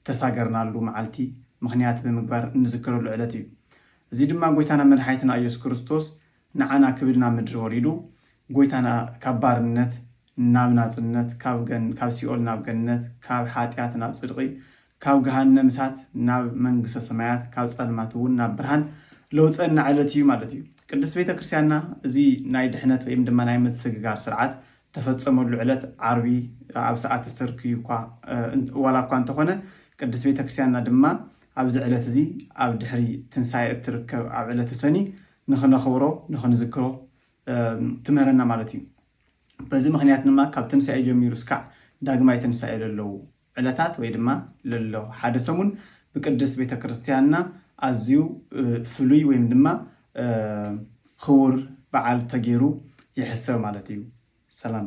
እተሳገርናሉ መዓልቲ ምኽንያት ብምግባር እንዝክረሉ ዕለት እዩ። እዚ ድማ ጎይታናን መድሓኒትና ኢየሱስ ክርስቶስ ንዓና ክብል ናብ ምድሪ ወሪዱ ጎይታና ካብ ባርነት ናብ ናጽነት ካብ ሲኦል ናብ ገነት ካብ ሓጢኣት ናብ ጽድቒ ካብ ገሃነም እሳት ናብ መንግስተ ሰማያት ካብ ጸልማት እውን ናብ ብርሃን ለውጸና ዕለት እዩ ማለት እዩ። ቅድስት ቤተ ክርስቲያንና እዚ ናይ ድሕነት ወይም ድማ ናይ ምስግጋር ስርዓት ተፈጸመሉ ዕለት ዓርቢ ኣብ ሰዓተ ሰርክ እዩኳ ዋላ እኳ እንተኾነ ቅድስት ቤተ ክርስቲያንና ድማ ኣብዚ ዕለት እዚ ኣብ ድሕሪ ትንሳኤ እትርከብ ኣብ ዕለተ ሰኒ ንኽነኽብሮ ንኽንዝክሮ ትምህረና ማለት እዩ። በዚ ምኽንያት ድማ ካብ ትንሳኤ ጀሚሩ እስካዕ ዳግማይ ትንሳኤ ለለዉ፣ ዕለታት ወይ ድማ ለሎ ሓደ ሰሙን ብቅድስት ቤተ ክርስቲያንና ኣዝዩ ፍሉይ ወይም ድማ ኽቡር በዓል ተገይሩ ይሕሰብ ማለት እዩ። ሰላም።